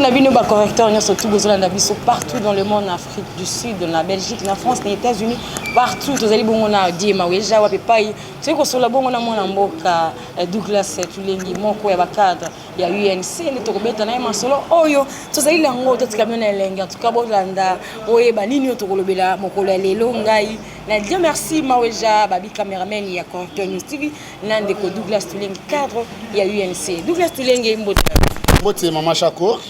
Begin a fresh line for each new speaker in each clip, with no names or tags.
na bino bacorrecteur nyonso tu bozolanda biso partout dans le monde na afrique du sud na belgique na france na états-unis partout tozali bongo na diema weja wapi epai soki kosolola bongo na mwana mboka eh, douglas tulengi moko ya bacadre ya UNC nde tokobeta na ye masolo oyo tozali na yango totika bino na elengi antuka bolanda oyeba nini oyo tokolobela mokolo ya lelo ngai na dieu merci maweja babi cameraman ya Contour News TV na ndeko Douglas Tulenge cadre ya UNC Douglas Tulenge mbote mbote
mama Shako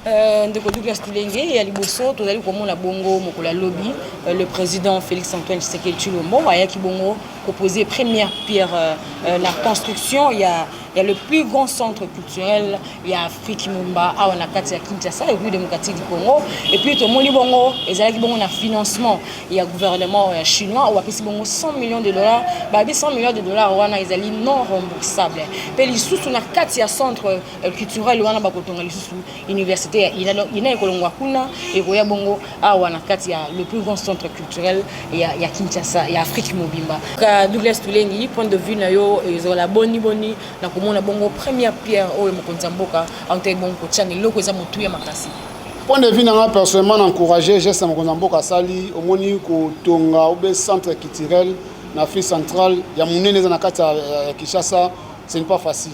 Euh, ndeko
douglas tulenge ya liboso tozali komona bongo mokolo ya lobi euh, le président félix antoine tshisekedi tshilombo ayaki bongo kopose première pierre euh, na construction ya ya le plus grand centre culturel ya afrique mumba awa na kati ya kinshasa république démocratique du congo et puis tomoni bongo ezalaki bongo na financement ya gouvernement ya chinois oyo apesi bongo 100 millions de dollars babi 100 millions de dollars wana ezali non remboursable mpe lisusu na kati ya centre euh, culturel wana bakotonga lisusu université ya ina donc ina ekolongwa kuna ekoya bongo awa na kati ya le plus grand centre culturel ya, ya kinshasa ya afrique mobimba ka douglas tulengi point de vue na yo ezala boni boni na komona bongo première pierre oyo mokonzi ya mboka autaki bongo kotya na eloko eza motuya makasi point de vue na
nga personnellement na encourage geste ya mokonzi ya mboka asali omoni kotonga obe centre culturel na afrique centrale ya monene eza na kati ya kinshasa ce n'est pas facile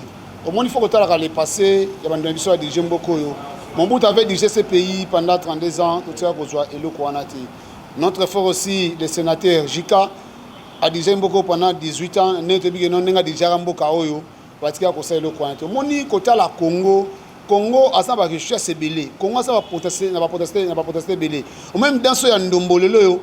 Omoni faut kotalaka le passé ya bando na biso ya dirige mboka oyo. Mobutu avait dirigé ce pays pendant 32 ans, totika kozwa eloko wana te. Notre frère aussi, le sénateur Jika, a dirigé mboka oyo pendant 18 ans, nde toyebi ke non ndenge adirigaka mboka oyo, batika kosala eloko wana te. Omoni kotala Congo, Congo aza na ba richesse ebele, Congo aza na ba potentialité ebele. Omoni danso ya ndombo lelo oyo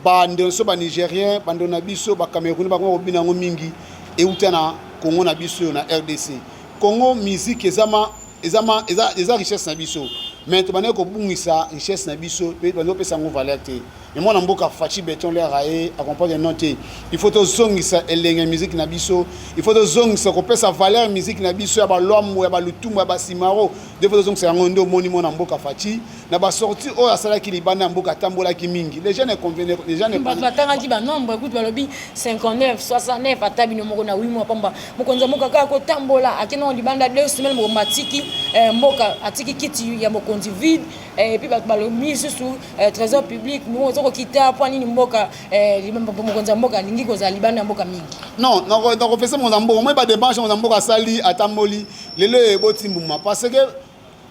Bande nso ba Nigerien, bande na biso ba Camerounais bakoma kobina yango mingi euta na Congo na biso na RDC. Congo musique ezama ezama eza eza richesse na biso. Mais to banaki kobungisa richesse na biso pe bando pesa ngo valeur te. Mais mwana mboka Fachi Beton le rae accompagne non te. Il faut to zongisa elenge musique na biso. Il faut to zongisa ko pesa valeur musique na biso ya ba lwambo ya ba lutumba ya ba simaro. Il faut to zongisa yango ndo moni mwana mboka Fachi. na ba sortie oyo asalaki libanda ya mboka atambolaki mingi les gens ne convenaient les gens ne bato batangaki ba nombre
kutu balobi 59 69 ata bino moko na 8 mois pamba mokonzi ya mboka kaka kotambola akendaka libanda deux semaines moko matiki eh, mboka atiki kiti ya mokonzi vide eh, epuis bato balobi lisusu eh, trésor public moko oza kokita mpo nini mboka mokonzi ya mboka alingi kozala libanda ya mboka mingi non nakopesa
mokonzi ya mboka moi bademarche mokonzi ya mboka asali atamboli lelo eboti mbuma parce que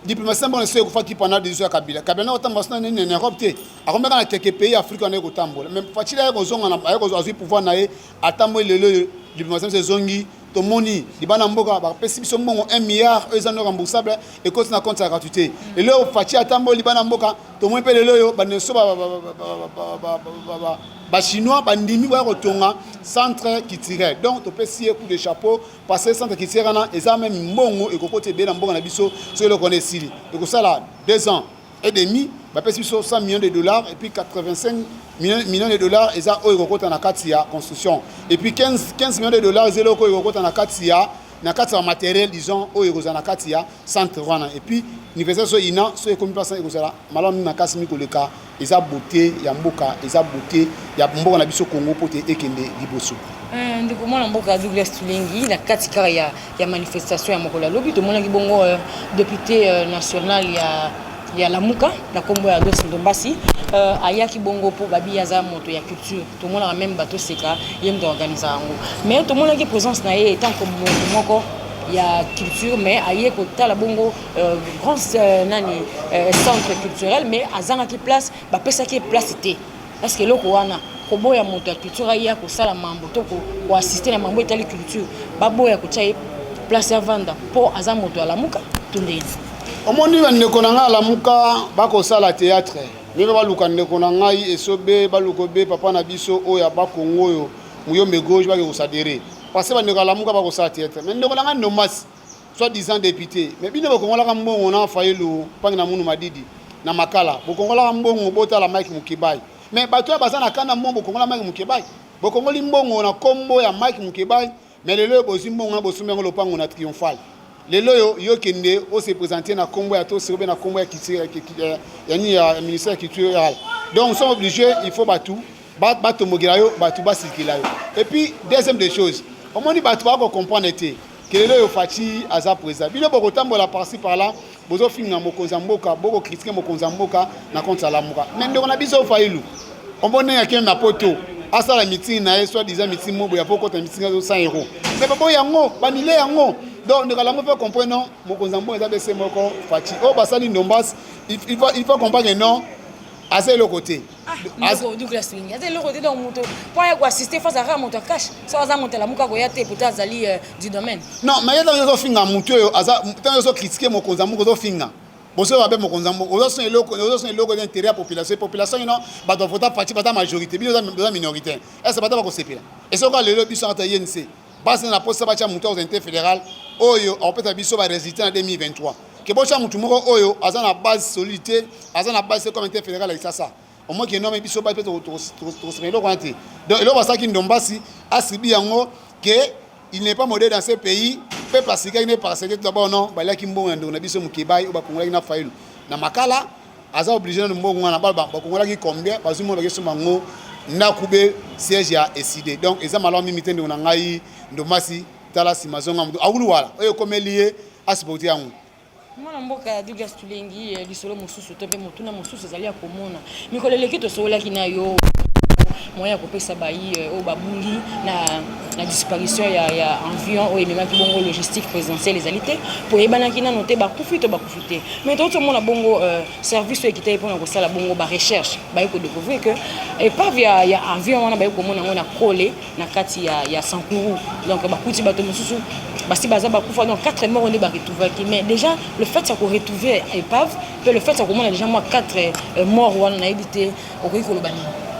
diplomatie na bango na sio ekufaki pendant decision ya kabila kabila na kotambola sina nini na europe te akomeka na keke pays afrique wana ekotambola mais fatshili aye kozonga na aye azwi pouvoir na ye atamboli lelo oyo diplomatie na biso ezongi tomoni libana mboka bapesi biso mbongo 1 milliard oyo eza no remboursable ekoti na compte ya gratuité lelo oyo fatshi atamboli libana mboka tomoni mpe lelo oyo banenso bachinois bandimi baya kotonga centre culturel donc topesi ye coup de chapeau Passer centre culturel wana eza meme mbongo ekokoti ebele na mboka na biso soki eloko wana esili ekosala deux ans et demi bapesi biso 100 millions de dollars et puis 85 millions de dollars eza oyo ekokota na kati ya construction et puis 15, 15 millions de dollars eza eloko oyo ekokota na kati ya na kati ya materiel disons oyo ekozala na kati ya centre wana et puis université so ina so ekomi mpasa ekozala malamu makasi mikoleka Eza beaute ya mboka, eza beaute ya mboka na biso Congo mpo te ekende liboso. Eh, ndeko mwana
mboka Douglas Tulengi na kati kaka ya, ya manifestation ya mokolo ya lobi tomonaki bongo euh, depute euh, national ya ya lamuka na nkombo ya los ndombasi euh, ayaki bongo mpo babi aza moto ya culture tomonaka meme bato oseka ye moto aorganiza yango mais tomonaki présence na ye etant moko ya culture mais aye kotala bongo Euh, grand euh, nani euh, centre culturel mais azangaki place bapesaki ye place te parceke eloko wana koboya moto ya culture aye akosala mambo to koassiste na mambo etali culture baboya kotya ye place ya vanda mpo aza moto alamuka to ndeni omoni
bandeko na ngai alamuka bakosala théâtre ndenge baluka ndeko na ngai esobe baluka obe papa na biso oyo ya bakongo oyo muyombe gauche bake kosadere parce bandeko alamuka bakosala théâtre mais ndeko na ngai nomasi soit disant depute mais bino bokongolaka mbongo na fayulu mpangi na munu madidi na makala bokongolaka mbongo botala mike mukebayi mais bato oyo baza na kanda mbongo bokongola mike mukebayi bokongoli mbongo na kombo ya mike mukebayi mais lelo oyo bozwi mbongo na bosombi yango lopango na triomphale lelo oyo yo kende ose présente na kombo ya tosi obe na kombo ya culture ya nini ya ministère ya culture donc sont obligé il faut bato batombokela yo bato basilikela yo epuis deuxième des choses omoni bato baa kocomprendre te kelelo oyo faci aza président bino bokotambola parci par là bozofinga mokonzi ya mboka bokokritike mokonzi ya mboka na konti alamuka me ndeko na biso failu omoni ndenge akende na poto asala mitingi na ye soit disant mitingi mobo ya po kota mitingi azo 100 euro me baboyi yango banile yango donc ndeko alamu mpe comprendre non mokonzi ya mboka eza bese moko faci oyo oh, basali ndombas il faut comprendre non aza eloko te Ah, ndeko douglas
mingi aza eloko te donc moto mpo aya koassiste face azaka moto akash so aza moto alamuka koya te pourtant azali euh, du domaine non mais ye ntango
ozofinga motu oyo aza ntango ozokritike mokonzi ya moko ozofinga bozoyo babe mokonzi ya moko ozosona eloko ozosona eloko eza intérêt ya population population ino bato bavota parti baza majorité bino oza minorité est ce bata bakosepela esoka lelo biso ata yense basi na posa batya moto ya autorité fédérale oyo akopesa biso ba résultat na 2023 ke botya motu moko oyo aza na base solide te aza na base te comme inter fédéral ya kisasa omoi ke nome biso basi mpe tokosima eloko wana te donc eloko asalaki ndombasi asibi yango ke il n'est pas modèle dans ce pays mpe pasikaki nde paraseke tout d'abord non baliaki mbongo ya ndeko na biso mokebai oyo bakongolaki na fayulu na makala aza oblige nanu mbongo wana bana bakongolaki combien bazwi mbongo bake soma yango ndako be siège ya eside donc eza malamu mingi te ndeko na ngai ndomasi tala nsima zonga moto awuluwala oyo ekomeli ye asupporte yango mwana mboka
ya dugas tulengi eh, lisolo mosusu to mpe motuna mosusu ezali ya komona mikolo eleki tosololaki na yo moyen ya kopesa bayi eh, oyo babungi na, na disparition ya, ya avion oyo ememaki bongo logistique présidentielle ezali te mpo eyebanaki nano te bakufi to te mais toyoti omona bongo euh, service oyo ekitaki mpona kosala bongo barecherche baye kodecouvrir que epave ya, ya avion wana baye komona yango na kole na kati ya, ya sankuru donc bakuti bato mosusu basi baza bakufa donc 4 moko nde baretrouvaki mais déjà le fait ya koretrouver epave mpe le fait ya komona déjà mwa 4 euh, mort wana nayebi te okoki koloba nini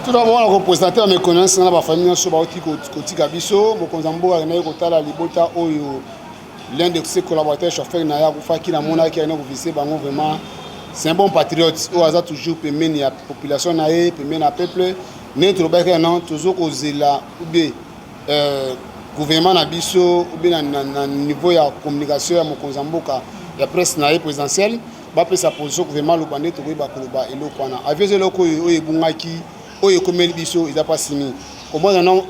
tout
d'abord wana kopresente na méconnaissance na bafamille nyonso bauti kotika biso mokonzi ya mboka akendaki kotala libota oyo L'un de ses collaborateurs chauffeur na ya kufaki na mona ki ayina kuvise bango vraiment c'est un bon patriote oyo aza toujours pembeni ya population na ye pembeni ya peuple ndenge tolobaki yano tozo kozela ube euh, gouvernement na biso ube na, na, na niveau ya communication ya mokonzi ya mboka ya presse na ye présidentielle bapesa position gouvernement aloba nde tokoyeba koloba eloko wana avion eza eloko oyo ebungaki oyo ekomeli biso eza mpasi mingi komona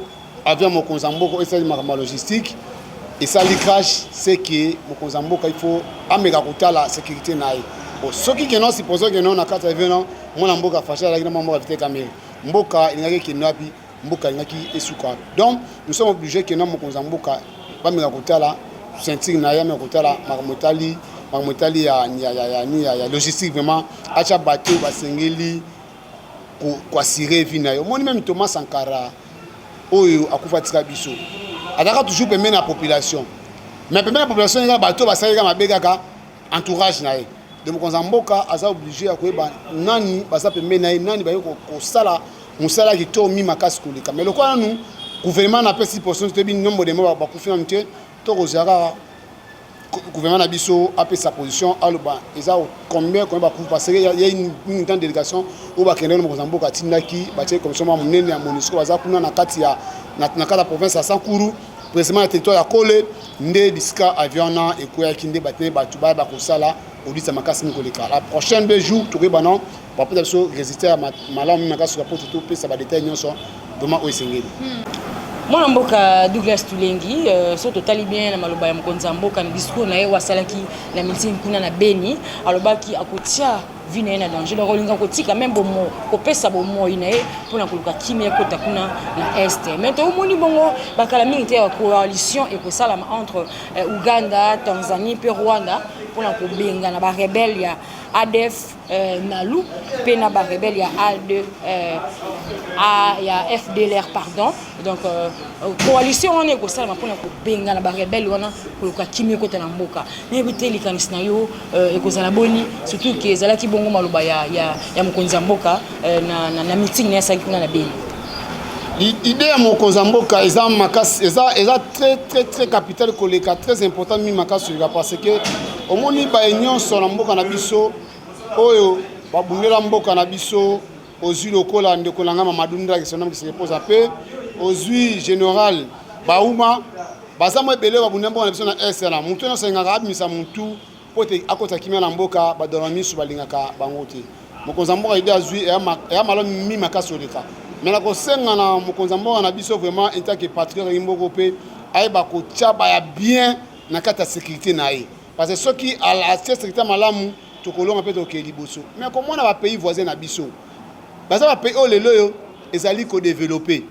Avion mokonzi ya mboka esali makambo ya logistique esali crash seke mokonzi ya mboka ifo ameka kotala sécurité na ye bon soki keno supposons keno na kati ya veno mwana mboka fashi azalaki na mwa mboka vite kamere mboka elingaki ekende wapi mboka elingaki esuka wapi donc nous sommes obligé keno mokonzi ya mboka bameka kotala ceinture na ye ameka kotala makambo etali makambo etali ya logistique vraiment atya bato basengeli ko assurer vie na yo moni meme Thomas Sankara oyo akufa tika biso azalaka toujours pembeni ya population mais pembeni ya population eza bato basalaka mabe kaka entourage na ye de mokonzi ya mboka aza oblige ya koyeba nani baza pembeni na ye nani baye kosala mosala kitoko mi makasi koleka mais lokola nanu gouvernement napesi portion toyebi nombre de moko bakufi nanu te tokozala kaka gouvernement na biso apesa position aloba eza combien combien bakufi parce que ya une grande délégation oyo bakendaki na mokonzi ya mboka atindaki batie commission mwa monene ya monisco baza kuna na kati ya na kati ya province ya sankuru précisément na territoire ya kole nde bisika avion wana ekweyaki nde batene bato baya bakosala odisa makasi mingi koleka la prochaine deux jours tokoyeba non bapesa biso resultat ya malamu mimi akasuka mpo topesa badetail nyonso vraimen oyo esengeli hmm. mwana
mboka douglas tulengi euh, so totali bien na maloba ya mokonzi ya mboka na discour na ye oyo asalaki na miting kuna na beni alobaki akotia vi na ye na danger donc olinga kotika meme bomo kopesa bomoi na ye mpona koluka kimia ekota kuna na est mais toomoni bongo bakala mingi te ya coalition ekosalama entre euh, uganda tanzanie mpe rwanda mpona kobengana barebele ya adf eh, Nalu mpe na ba rebelle ya A2 eh, A, ya FDLR pardon donc euh, euh, coalition wana ekosalama mpona kobengana ba rebelle wana koluka kimia ekota na mboka nayebi te likanisi na yo euh, ekozala boni surtout ke ezalaki bongo maloba ya, ya, ya mokonzi ya mboka euh, na, na, na meeting na yasalaki kuna na beni
idée ya mokonzi ya mboka eza makasi eza, eza très très très capital koleka très important mi makasi oleka parce que Omoni baye nyonso na mboka na biso oyo babundela mboka na biso ozwi lokola ndeko na ngai Mamadou Ndaki sonam kisekepoza mpe ozwi general bauma baza mwa ebele babundela mboka na biso na est wana motu nyonso alingaka abimisa motu mpo ete akota kimia na mboka badona miso balingaka bango te mokonzi ya mboka ide azwi eya malo mi makasi oleka me nakosenga na mokonzi ya mboka na biso vraiment intake patriote yangi mboko mpe ayeba kotya baya bien na kati ya securite na ye parce que soki atie securite malamu tokolonga mpe tokokee liboso mais akomona bapays voisin na biso baza bapays oyo lelo oyo ezali kodevelope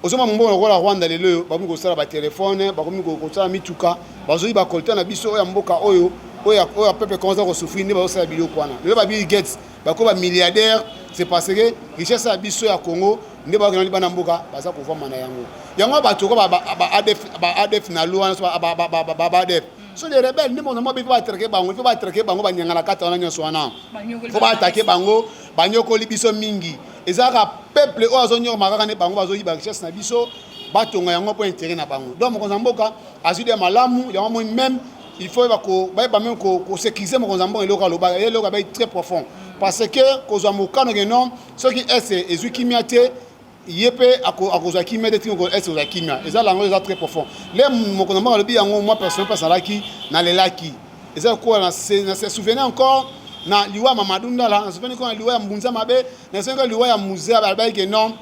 ozoma mobongo lokola rwanda lelo oyo bakomi kosala batelefone bakomi kosala mituka bazoi bakolta na biso oyo ya mboka oyo oyo peuple commence kosufri nde bazosala biloko wana lelo babill gates bakoba milliardaire c'est parce que richesse ya biso ya congo nde bakendaki bana mboka baza kovama na yango yango bato ko baadf na loi baadf so les rebelles nde mona mabe mpo batrake bango mpo batrake bango banyangana kata wana nyonso wana mpo baatake bango banyokoli biso mingi eza kaka peuple oyo azonyokoma kaka nde bango bazoyiba richesse na biso batonga yango mpo intere na bango donc mokonzi ya mboka azwi de malamu yango moi meme il faut bayeba meme kosekirize mokonzi ya mboka eloko aloba eloko abai très profond parce que kozwa mokano ke non soki est ezwi kimia te ye mpe akozwa kimia te tingo est kozwa kimia eza lango eza très profond le moko na mbango alobi yango mwa personne mpe asalaki nalelaki eza kokola na se souvenir encore na liwa ya mamadou ndala na souvenir na liwa ya mbunza mabe na souvenir liwa ya musee alobaki ke non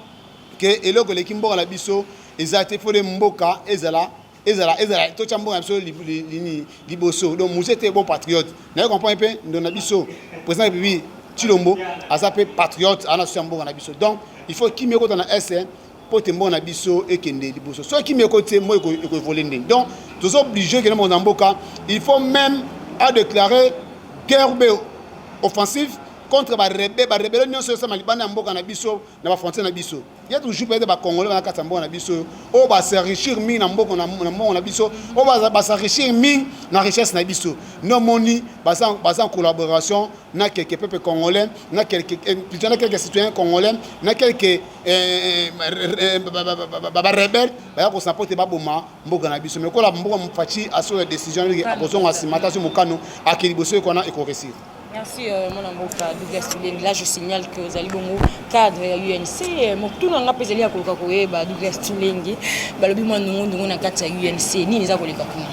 ke eloko eleki mboka na biso eza te fode mboka ezala ezala ezala totya mboka na biso lini liboso donc muse te bon patriote naye comprendre mpe ndo na biso président ya république tshilombo aza mpe patriote aza na susi ya mboka na biso donc il faut kimia ekota na est mpo te mboka na biso ekende liboso soki kimia ekoti te moi ekoevole ndeni donc toza oblige okende moko na mboka il faut même a déclare guerre be offensive contre barebe barebele nyonso esama libanda ya mboka na biso na bafrontiere na biso Il y a toujours peut-être ba congolais na kati mboka na biso oyo ba s'enrichir mingi na mboko na mbongo na biso oyo ba ba s'enrichir mingi na richesse na biso no moni baza baza en collaboration na quelques peuples congolais na quelques eh, plutôt na quelques citoyens congolais na quelques eh, eh, eh ba ba rebelles ba ya ko s'apporter ba boma mboka na biso mais kola mboka mfachi aso la décision akozonga simata so mokano akeli boso ekona ekoresi Merci euh, mon
amour euh, Douglas Tibeni. Là je signale que ozali bongo cadre ya UNC. Euh, Mokutuna nga mpe ezali ya koluka koyeba Douglas Tulenge balobi mwa ndungu ndungu na kati ya UNC nini eza koleka kuna.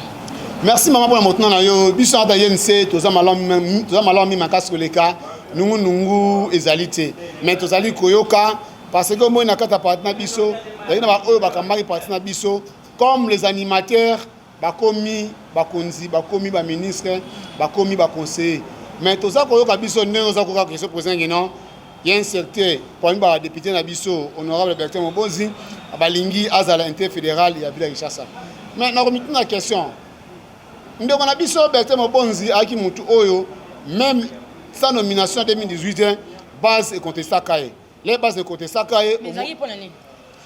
Merci mama
mpona motuna na yo biso ata UNC toza malamu toza malamu mingi makasi koleka nungu nungu ezali te mais tozali koyoka parce que omoni na kati ya parti na biso ezali na baoyo bakambaki parti na biso comme les animateurs Bakomi bakonzi, bakomi ba ministre, bakomi ba conseiller. Mais toza koyoka biso ndenge oza koyoka question poser ngi non. Ya incertain parmi ba député na biso honorable Bertin Mobozi balingi azala inter fédéral ya ville ya Kinshasa. Mais na komituna question. Ndeko na biso Bertin Mobozi aki mutu oyo même sa nomination 2018 base econtestaka ye. les base ekotesaka ye ezalaki mpo na nini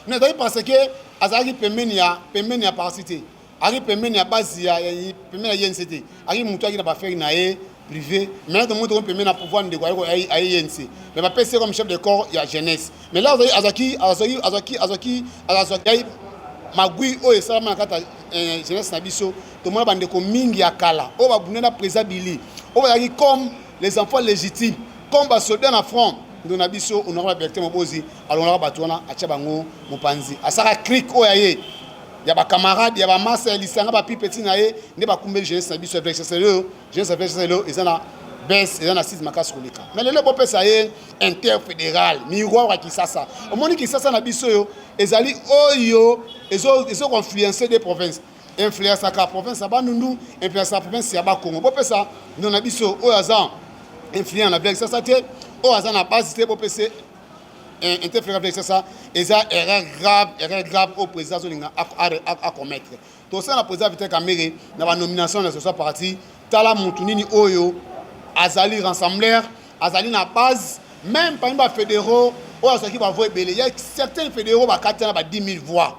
na ezalaki parce
que azalaki pembeni ya pembeni ya parti te azalaki pembeni ya base ya pembeni ya yense te azalaki motu ayaki na bafere na ye privé mais nazo moto pembeni na pouvoir ndeko ayeko aye yense mais bapesi ye comme chef de corps ya jeunesse mais là azalaki azalaki azalaki azalaki azalaki magui oyo esalama na kati ya eh, jeunesse na biso tomona bandeko mingi ya kala oyo babunda na président bili oyo bazalaki comme les enfants légitimes comme basoda na front ndo na biso honore ba bertin mobozi alongolaka bato wana atya bango mopanzi asaka crik oyo aye ya bacamarade ya bamasa ya lisanga bapipeti na ye nde bakumbeli jeunesse na biso ya vlclo jeunesse ya vlclo eza na bes eza na site makasi koleka me lelo bopesa ye interfédéral miroir ya kisasa omoni kisasa na biso oyo ezali oyo ezokoinfluence de province influencaka province ya bandundu influencaka province ya bakongo bopesa ndeko na biso oyo aza influent na blaise sasa te oyo aza na base te bopesa eh, interfere blaise sasa eza erreur grave erreur grave oyo président azolinga acommettre tosala na président vital kamere na banomination na sosa parti tala motu nini oyo azali rassembler azali na base même parmi bafédéraux oyo azwaki bavoix ebele ya certains fédéraux bakati na ba 10 000 voix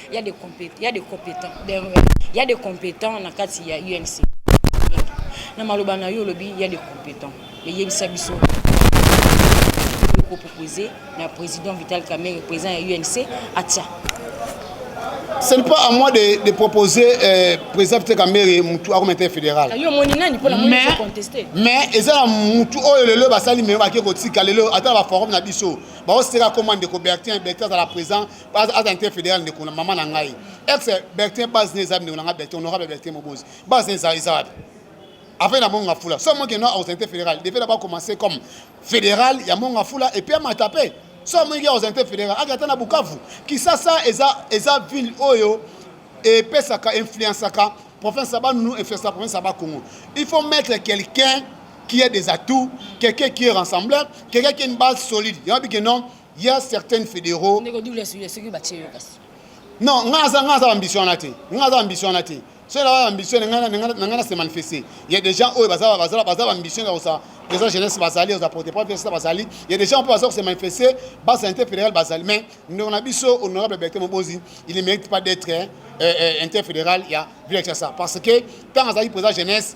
Il y a des compétents, il y a des compétents, il y a des compétents na kati ya UNC. Na maloba na yo lobi, il y a des compétents. Mais yebisa biso ko proposer na président Vital Kamerhe, président ya UNC, atia.
Ce n'est pas à moi de, de proposer euh, président Vital Kamerhe mutu ako mete fédéral. Yo moni nani pona moni ko contester. Mais ezala mutu oyo lelo basali mais ba ke ko tika lelo ata ba forum na biso. Ba oseka commande ko Bertin, Bertin à la présent aza nte fédéral ndeko na mama na ngai ex bertin base ne eza ndeko na ngai bertin honorable bertin mobozi base ne eza eza wapi afai na monga fula so amonike no akozala nte fédéral depuis na bacommence comme fédéral ya monga fula epuis amata mpe so amoniki akozala nte fédéral ake ata na bukavu kisasa eza eza ville oyo epesaka influenceaka province ya banunu influencaka province ya bakongo il faut mettre quelqu'un qui est des atouts quelqu'un qui est rassembleur quelqu'un qui est une base solide yango bike non ya certaines fédéraux ndeko double soulier soki batie yo kasi non nga aza nga aza ambition wana te nga aza ambition wana te soki naza ambition na nga na se manifester ya des gens oyo baza baza baza ambition ya kosa eza jeunesse bazali oza porte pas pesa bazali ya des gens mpe baza kose manifester basa inter fédéral bazali mais ndeko na biso honorable bertin mobozi il ne mérite pas d'être euh, euh, inter fédéral ya ville ya kinshasa parce que ntango azalaki président jeunesse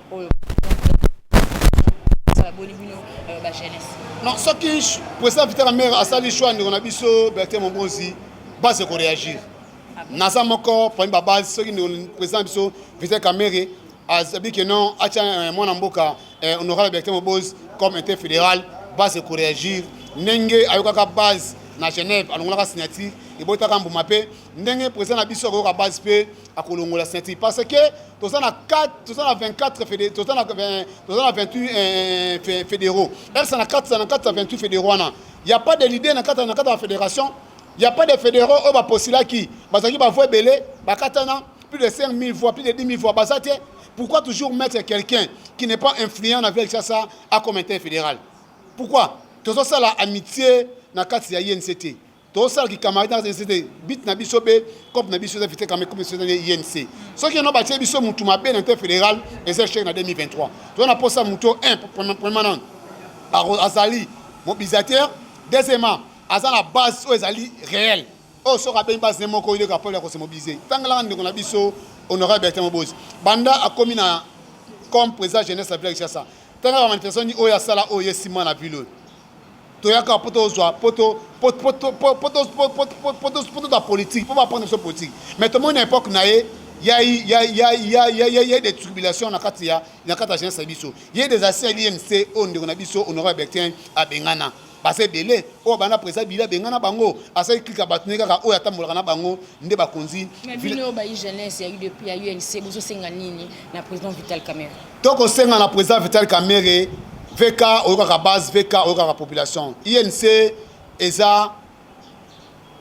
oyo boni bino euh, ba
jeunesse non soki président vital amere asali choix ndeko na biso bertin mobozi base koréagir ah naza moko parmi babase soki président na biso vital kamere azabi ke non atya euh, mwana mboka euh, honorable bertin mobozi comme inter fédéral base koréagir ndenge ayokaka base na genève alongolaka signature ebotaka mbuma mpe ndenge président na biso akoyoka base mpe akolongola signature parce que toza na 4 toza na 24 fede toza na toza na 28 eh, eh, fédéraux ersa na 4 na 4 28 fédéraux wana ya pas de leader na 4 na 4 ya fédération ya pas de fédéraux oyo baposilaki bazalaki bavoix ebele bakatana plus de 5000 voix plus de 10 000 voix baza te pourquoi toujours mettre quelqu'un qui n'est pas influent na ville sasa a comité fédéral pourquoi tozosala amitié na kati ya inct tosala kikamari na ese te bit na biso mpe cope na biso eza fite kama cope biso eza nde inc soki yango batie biso motu mabe na nte fédéral eza échec na 2023 toza na mposa motu o permanent azali mobilisateur deuxièmement aza na base oyo ezali réel oyo soki abengi base ne moko ileka pole ya kose mobilise tangelaka ndeko na biso honorable bertin mobozi banda akomi na comme président jeunesse ya village sasa tangaka manifestation nini oyo asala oyo ye nsima na ville oyo toyaka po tozwa po toza politike po bapona biso politike mais tomoni na epoque na ye ya des tribulations na kati ya jeunesse na biso ye des asi ya limc oyo ndeko na biso honorable bertin abengana baza ebele oyo bana présa bile abengana bango asali klika bato ne kaka oyo atambolaka na bango nde bakonzi bino oyo bayi
jeunesse ya udp ya unc bozosenga nini na président vital camere Toko senga na
president Vital Kamerhe VK oyokaka base VK oyokaka population INC eza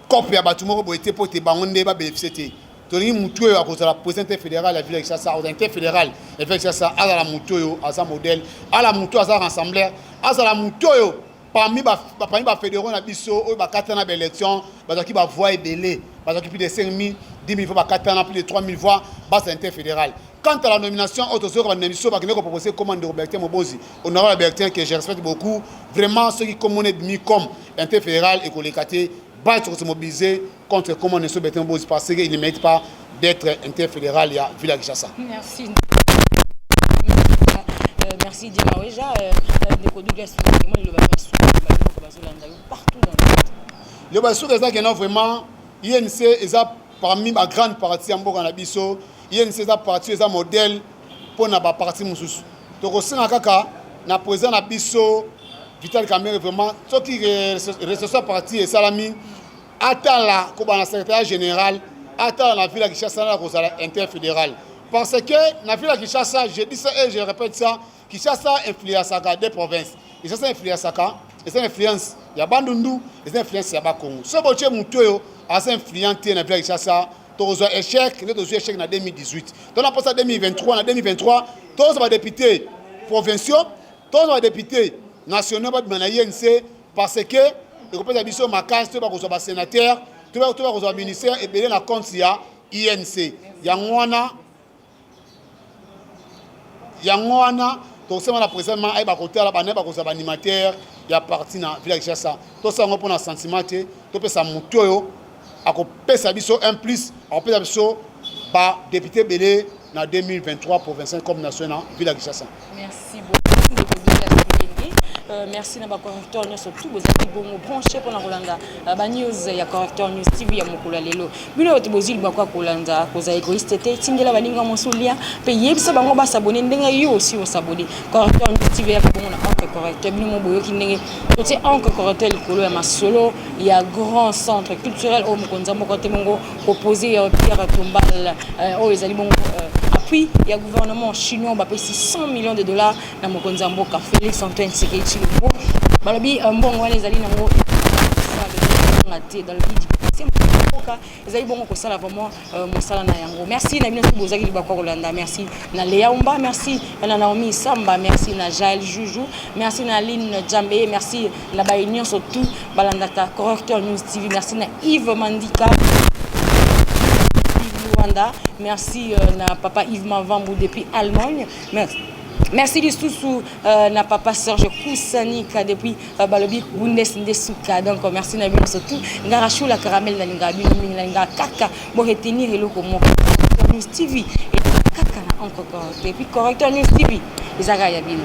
cope ya bato moko boye te mpo te bango nde ba bénéficier te tolingi motu oyo akozala président fédéral ya ville ya Kinshasa akozala te fédéral ya ville ya Kinshasa azala motu oyo aza modèle ala motu azala rassembler azala motu oyo parmi ba parmi ba fédéraux na biso oyo bakata na ba élection bazalaki ba voix ebele bazalaki plus de 5000 10 000 fois bakata na plus de 3000 voix base inter fédéral quant à la nomination oyo tozoyoka banda biso bakende kopropose koma ndeko bertin mobozi honorable bertin que je respecte beaucoup vraiment soki komona ebimi comme inter fédéral ekoleka te baya toko se mobiliser contre comment ne so betin bozi parce que il ne mérite pas d'être interfédéral ya ville ya Kinshasa merci
euh, merci Dima Weja euh, euh, ndeko Douglas Kimoni le baba suka bazolanda yo partout dans le monde le baba suka eza
kena vraiment INC eza parmi ba grande partie ya mboka na biso INC eza partie eza modèle mpo na ba parti mosusu tokosenga kaka na president na biso Vital Kamerhe vraiment soki recession parti esalami atala koba na secrétariat général atala na ville ya Kinshasa na kozala interfédéral parce que na ville ya Kinshasa je dis ça et je répète ça Kinshasa influençaka des provinces Kinshasa influençaka eza na influence ya bandundu eza na influence ya bakongo so botie motu oyo aza influent te na ville ya Kinshasa tokozwa echec nde tozwi echec na 2018 to na posa 2023 na 2023 tozwa badepute provinciaux tozwa badepute nationaux babima na inc parce que ekopesa biso makasi to bakozwa basenateur to bakozwa ministère ebele na compte ya inc yango wana yango wana tokosema na president ma ayeba kotala bana bakozala baanimateur ya parti na villa kinshasa tosala yango mpona sentiment te topesa motu oyo akopesa biso un plus akopesa biso badepute ebele na 2023 provincial comme national villa kinshasa Merci beaucoup
ndeko Bella Kibende. Euh, merci na ba correcteur nyonso tout bozali bongo branche mpona kolanda euh, ba news ya correcteur news TV ya mokolo ya lelo. Bino bato bozili bakoka kolanda kozala egoiste te, tindela baninga mosu lien mpe yebisa bango basabone ndenge yo osi osabone. Correcteur news TV ya bongo na encre correcteur bino mo boyoki ndenge totie encre correcteur likolo ya masolo ya grand centre culturel oyo mokonzi moko te mongo Opposé ya Pierre Tombal euh, oyo ezali bongo euh, appui ya gouvernement chinois bapesi 100 millions de dollars na mokonzi ya mboka Felix Antoine Tshisekedi Tshilombo balobi euh, mbongo wana ezali nango kozonga te dans le but dipase mboka ezali bongo kosala vraiment euh, mosala na yango merci na bino soki bozalaki libaku ya kolanda merci na lea umba merci na naomi samba merci na jael juju merci na aline jambe merci na baye nyonso tout balandaka correcteur news tv merci na yves mandika rwanda merci euh, na papa yves mavambu depuis allemagne merci merci lisusu euh, na papa serge kusanika depuis euh, balobi bundes nde suka donc merci na bino surtout ngara shula caramel nalingaka bino mingi nalingaka kaka boretenir eloko moko news tv kaka na encre correcteur epuis correcteur news tv ezalaka ya bino